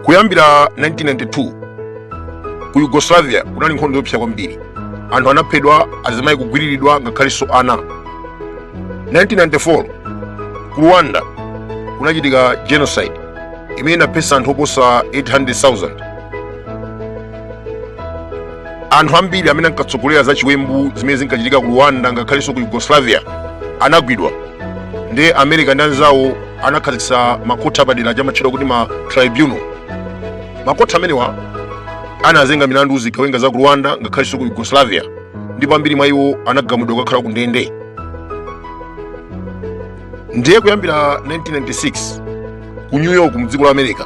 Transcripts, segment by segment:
kuyambira 1992 ku yugoslavia kunali nkhondo yopsa kwambiri anthu anaphedwa azimayi kugwiriridwa ngakhalenso ana 1994 ku rwanda kunachitika genocide imene inaphetsa anthu oposa 800000 anthu ambiri amene ankatsogolera za chiwembu zimene zinkachitika ku rwanda ngakhalenso ku yugoslavia anagwidwa ndiye america ndi anzawo anakhazikitsa makhoti apadera aja amatchedwa kuti ma tribunal makhoti amenewa anazenga milandu zigawenga za ku rwanda ngakhalenso ku yugoslavia ndipo ambiri mwa iwo anagamulidwa kukakhala ku ndende ndiye kuyambira 1996 ku new york mdziko la america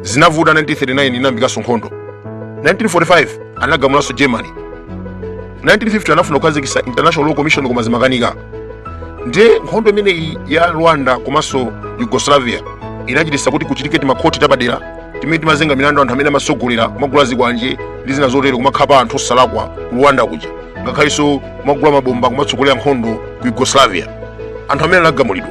zinavuta 1939 inayambikanso nkhondo 1945 anagamulanso germany 1950 anafuna kukhazikitsa international law commission koma zimakanika ndiye nkhondo imeneyi ya rwanda komanso yugoslavia inachititsa kuti kuchitike timakhoti tapadera timene timazenga milandu anthu amene amatsogolera kumagula zikwanje ndi zina zotero kumakhapa anthu osalakwa ku rwanda kuja ngakhalenso kumagula mabomba kumatsogolera nkhondo ku yugoslavia anthu amenewa anagamulidwa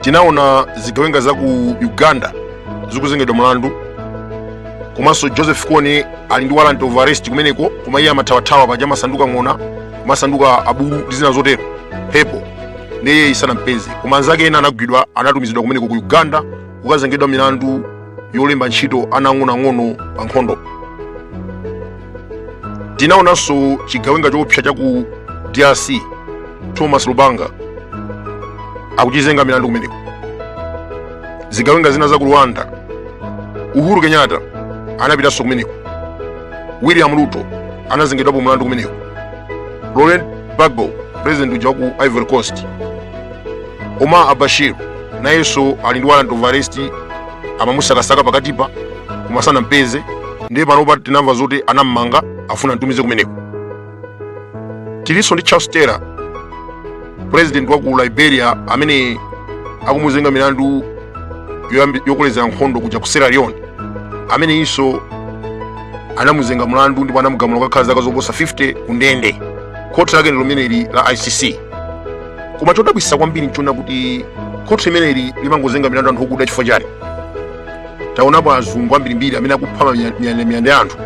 tinaona zigawenga za ku uganda zikuzengedwa mlandu komanso joseph kony ali ndi warrant of arrest kumeneko koma iye amathawathawa paja amasanduka ng'ona masanduka abulu ndi zina zotero mphepo ndiye iye isanampeze koma anzake ena anagwidwa anatumizidwa kumeneko ku uganda kukazengedwa milandu yolemba ntchito ana ang'onoang'ono pa nkhondo tinaonanso chigawenga choopsa cha ku drc thomas lubanga akuchizenga milandu kumeneko zigawenga zina za ku rwanda uhuru kenyatta anapitanso kumeneko william ruto anazengedwapo mulandu kumeneko laurent gbagbo president uja wa ku ivory coast omar al-bashir nayenso ali ndi warrant of arrest amamusakasaka pakatipa koma sanampeze ndiye panopa tinamva zoti anammanga afuna amtumize kumeneko tilinso ndi charles taylor president wa ku liberia amene akumuzenga milandu yokolezera nkhondo kuja ku sierra leone ameneyinso anamuzenga mlandu ndipo anamugamula kukakhala zaka zoposa 50 ku ndende khoti lake ndi limeneli la icc koma chodabwitsa kwambiri nchoona kuti khoti limeneli limangozenga milandu anthu okuda chifukwa chani taonapo azungu ambirimbiri amene akupha miyandamiyanda ya anthu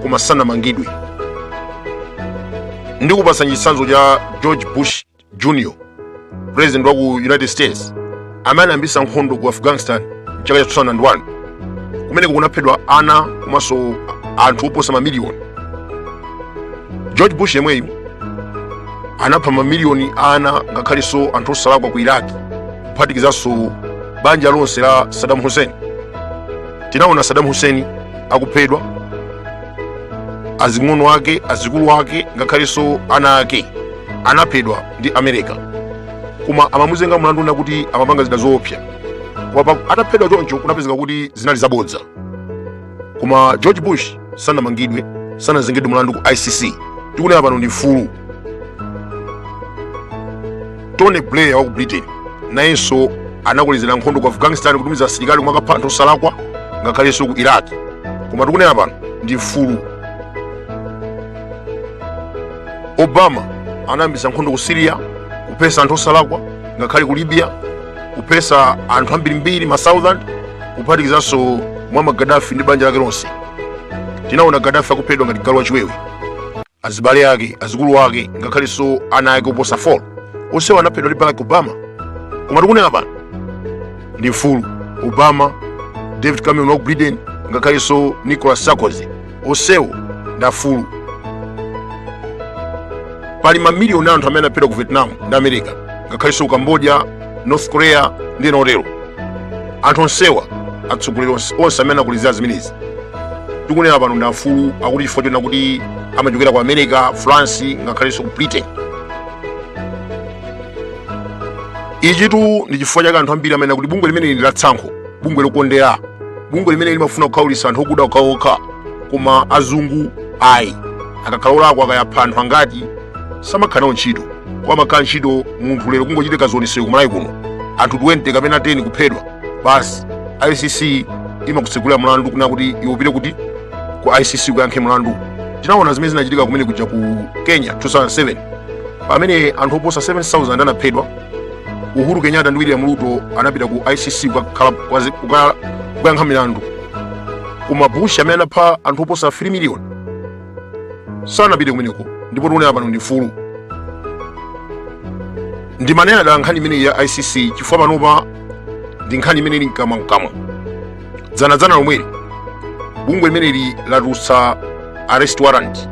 koma sanamangidwe ndikupatsani chitsanzo cha george bush jr president wa ku united states amene anayambitsa nkhondo ku afghanistan mchaka cha 2001 kumeneko kunaphedwa ana komanso anthu oposa mamiliyoni george bush yemweyu anapha mamiliyoni a ana ngakhalenso anthu osalakwa ku iraki kuphatikizanso banja lonse la saddam hussein tinaona saddam hussein akuphedwa azing'ono ake azikulu ake ngakhalenso ana ake anaphedwa ndi america koma amamuzenga mlandu kunena kuti amapanga zida zoopsa koma ataphedwa choncho kunapezeka kuti zinali zabodza koma george bush sanamangidwe sanazengedwe mlandu ku icc tikunena pano ndi mfulu tony blair wa ku britain nayenso anakolezera nkhondo ku afghanistan kutumiza asilikali omwe akapha anthu osalakwa ngakhalenso ku iraq koma tikunena pano ndi mfulu obama anayambisa nkhondo ku siriya kuphetsa anthu osalakwa ngakhale ku libya kuphetsa anthu ambirimbiri ma thousand kuphatikizanso muammar gadafi ndi banja lake lonse tinaona gadafi akuphedwa ngati galu wachiwewe azibale ake azikulu ake ngakhalenso ana ake oposa 4 onsewo anaphedwa ndi barack obama koma tikunena pano ndi mfulu obama david cameron wa ku britain ngakhalenso nicolas sarkozy onsewo ndi afulu pali mamiliyoni anthu amene anaphedwa ku vietnam ndi america ngakhalenso ku cambodia north korea ndi ena otero anthu onsewa atsogoleri onse amene anakolezera zimenezi tikunena pano ndi afulu akuti chifukwa chonena kuti amachokera ku america france ngakhalenso ku britain ichitu ndi chifukwa chake anthu ambiri amanena kuti bungwe limeneli ndi la tsankho bungwe lokondera bungwe limene limafuna kukhaulitsa anthu okuda okhaokha koma azungu ayi akakhala olakwa kaya apha anthu angati samakhala nawo ntchito koma amakhala ntchito munthu lero kungochitika zionetsero kumalawi kuno anthu 20 kapena 10 kuphedwa basi icc imakutsegulira mlandu kunena kuti iwe upite kuti ku icc ukayankhe mlandu tinaona zimene zinachitika kumene kuja ku kenya 2007 pamene anthu oposa 7000 anaphedwa uhuru kenyatta ndi william ruto anapita ku icc kukayankha milandu koma bush amene anapha anthu oposa 3 miliyoni sanapite kumeneko ndipo tikunena pano ndi mfulu ndimanena dala nkhani imeneyi ya icc chifukwa panopa ndi nkhani imene ili mkamwamkamwa dzanadzana lomweli bungwe limeneli latulutsa arrest warrant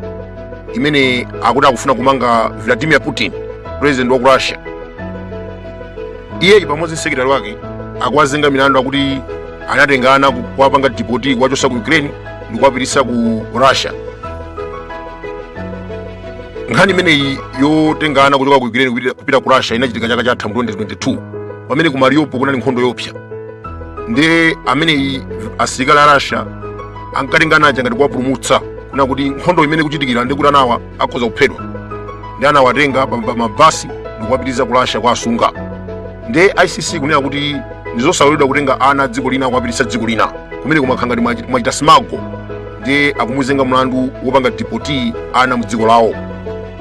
imene akuti akufuna kumanga vladimir putin president wa ku russia iyeyi pamodzi ndi sekretari wake akuwazenga milandu akuti anatenga ana ku- kuwapanga dipoti kuwachotsa ku ukraine ndi kuwapititsa ku russia nkhani imeneyi yotenga ana kuchoka ku ukraine kupita- kupita ku russia inachitika chaka chatha mu 2022 pamene ku mariupol kunali nkhondo yoopsa ndiye ameneyi asilikali a russia ankatenga anaja ngati kuwapulumutsa kunena kuti nkhondo imene ikuchitikira ndiye kuti anawa akhoza kuphedwa ndiye anawatenga pa pa mabasi ndikuwapititsa ku russia kuwasunga ndiye icc ikunena kuti ndizosaloledwa kutenga ana a dziko lina kuwapititsa dziko lina kumene kumakhala ngati mwachi- mwachita smuggle ndiye akumuzenga mlandu wopanga dipoti ana mu dziko lawo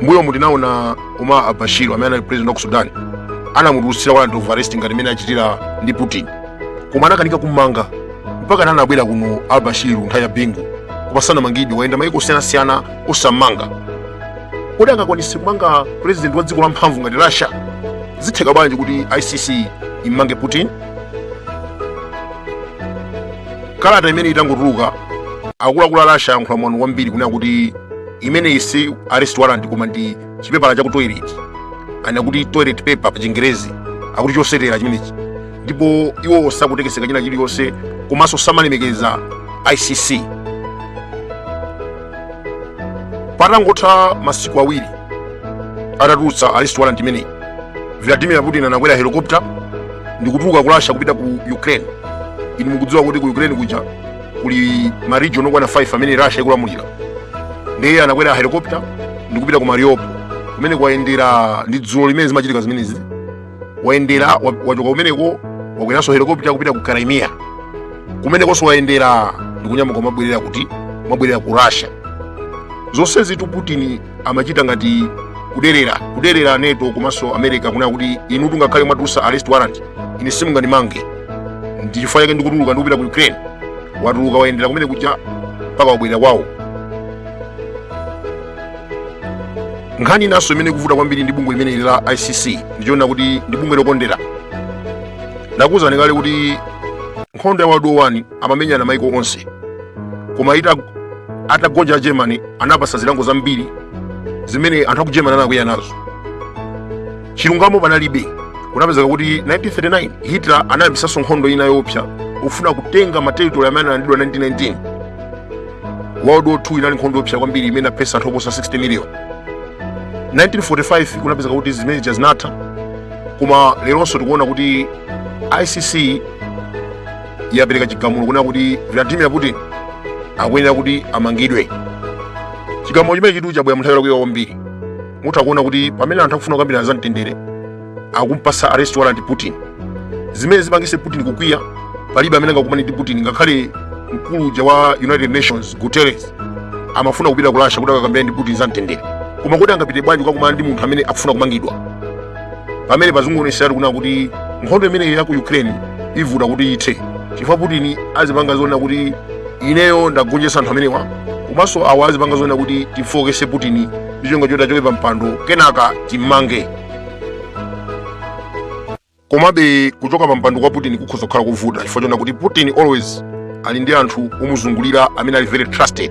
mbuyomu tinaona Omar al-Bashir amene anali president wa ku Sudan anamutulutsira warrant of arrest ngati imene achitira ndi Putin koma anakanika kummanga mpakana anabwera kuno al-Bashir nthawi ya bingu koma sanamangidwe wayenda maiko osiyanasiyana osammanga kodi angakwanitse kumanga president wa dziko la mphamvu ngati Russia zitheka bwanji kuti ICC immange Putin kalata imene itangotuluka akuluakulu a Russia ayankhula mwano kwambiri kunena kuti imeneyi si arrest warrant koma ndi chipepala chaku toilet kunena kuti toilet paper pa chingerezi akuti chosetera chimenechi ndipo iwo sakutekeseka china chilichonse komanso samalemekeza icc patangotha masiku awiri atatulutsa arrest warrant imeneyi vladimir putin anakwera helicopter ndikutuluka ku russia kupita ku ukraine inu mukudziwa kuti ku ukraine kuja kuli ma region okwana 5 amene Russia ikulamulira ndiye anakwera helicopter ndi kupita ku Mariupol kumene wayendera ndi dzulo limene zimachitika zimenezi wayendera wa- wachoka kumeneko wakweranso helicopter kupita ku Crimea kumenekonso wayendera ndi kunyamuka kumabwerera kumabwerera ku Russia zonsezitu Putin amachita ngati kuderera kuderera nato komanso america kunena kuti inutu ngakhale mwatulutsa arrest warrant ine simungandimange ndi chifukwa chake ndikutuluka ndikupita ku ukraine watuluka wayendera kumene kuja mpaka wabwerera kwawo nkhani inanso imene ikuvuta kwambiri ndi bungwe limeneli la icc ndi yonena kuti ndi bungwe lokondera ndakuwuzani kale kuti nkhondo ya world war one amamenyana maiko onse koma ita atagonja germany anapatsa zilango zambiri zimene anthu aku germany anakwiya nazo chilungamo panalibe kunapezeka kuti 1939 hitler anayambitsanso nkhondo ina yoopsa kufuna kutenga materitori amene analandidwa 1919 world war 2 inali nkhondo yoopsa kwambiri imene yaphetsa anthu oposa 60 miliyoni 1945 kunapezeka kuti zimene zija zinatha koma leronso tikuona kuti icc yapereka chigamulo kunena kuti vladimir putin akuyenera kuti amangidwe chigamulo chimenechitu chabwera munthawi yolakwika kwambiri mutha kuona kuti pamene anthu akufuna kukambirana za mtendere akumpasa arrest warrant putin zimene zipangise putin kukwiya palibe amene angakumane ndi putin ngakhale mkulu uja wa united nations guterres amafuna kupita ku russia kuti akakambirane ndi putin za mtendere koma kuti angapite bwanji kukakumana ndi munthu amene akufuna kumangidwa pamene pazingoonetseratu kunena kuti nkhondo imeneyi ya ku ukraine ivuta kuti ithe chifukwa putin azipanga zoonera kuti ineyo ndagonjetsa anthu amenewa komanso awa azipanga zoonera kuti timfookese putin ndi cholinga choti achoke pa mpando kenaka timmange komabe kuchoka pa mpando kwa putin kukhoza kukhala kovuta chifukwa chonena kuti putin always ali ndi anthu omuzungulira amene ali very trusted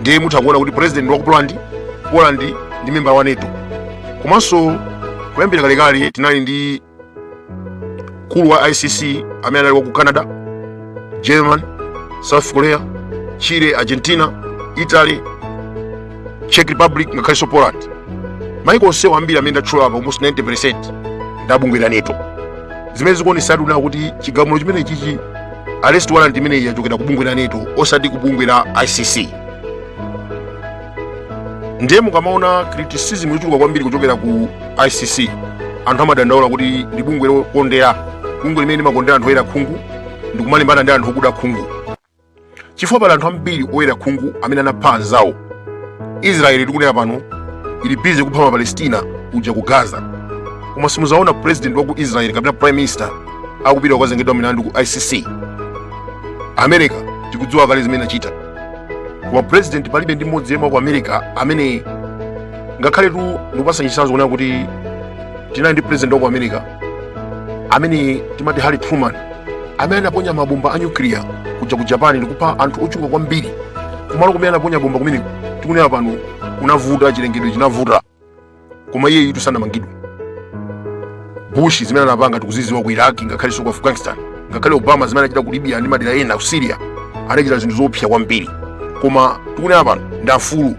ndiye mutha kuona kuti president wa ku poland poland ndi member wa nato komanso kuyambira kalekale tinali ndi mkulu wa icc amene anali wa ku canada german south korea chile argentina italy czech republic ngakhalenso poland maiko onsewa ambiri amene ndatchula apa almost 90 percent ndi abungwe la nato zimene zikuonetseratu kunena kuti chigamulo chimenechichi arrest warrant imeneyi yachokera ku bungwe la nato osati ku bungwe la icc ndiye mukamaona criticism yochuluka kwambiri kuchokera ku icc anthu amadandaula kuti ndi bungwe lokondera bungwe limene limakondera anthu oyera khungu ndikumalimbana ndi anthu okuda khungu chifukwa pali anthu ambiri oyera khungu amene anapha anzawo israeli tikunena pano ili busy kupha mapalestina kuja ku gaza koma simuzaona president wa ku israeli kapena prime minister akupita kukazengedwa milandu ku icc america tikudziwa kale zimene achita koma president palibe ndi mmodzi yemwe wa ku america amene ngakhaletu ndikupasa chisanzo kunena kuti tinali ndi president wa ku america amene timati harry truman amene anaponya mabomba a nyukiliya kuja ku japan ndikupha anthu ochuluka kwambiri kumalo kumene anaponya bomba kumeneko tikunena pano kunavuta chilengedwe chinavuta koma iyeyitu sanamangidwe bush zimene anapanga tikuziziwa ku iraq ngakhalenso ku afghanistan ngakhale obama zimene adachita ku libya ndi madera ena ku syria adachita zinthu zoopsa kwambiri koma tikunena pano ndi afulu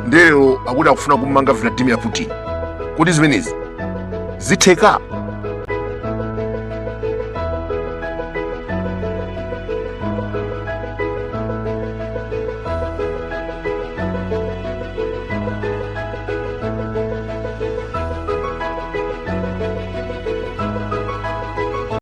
ndiye lero akuti akufuna kummanga vladimir putin kodi zimenezi zitheka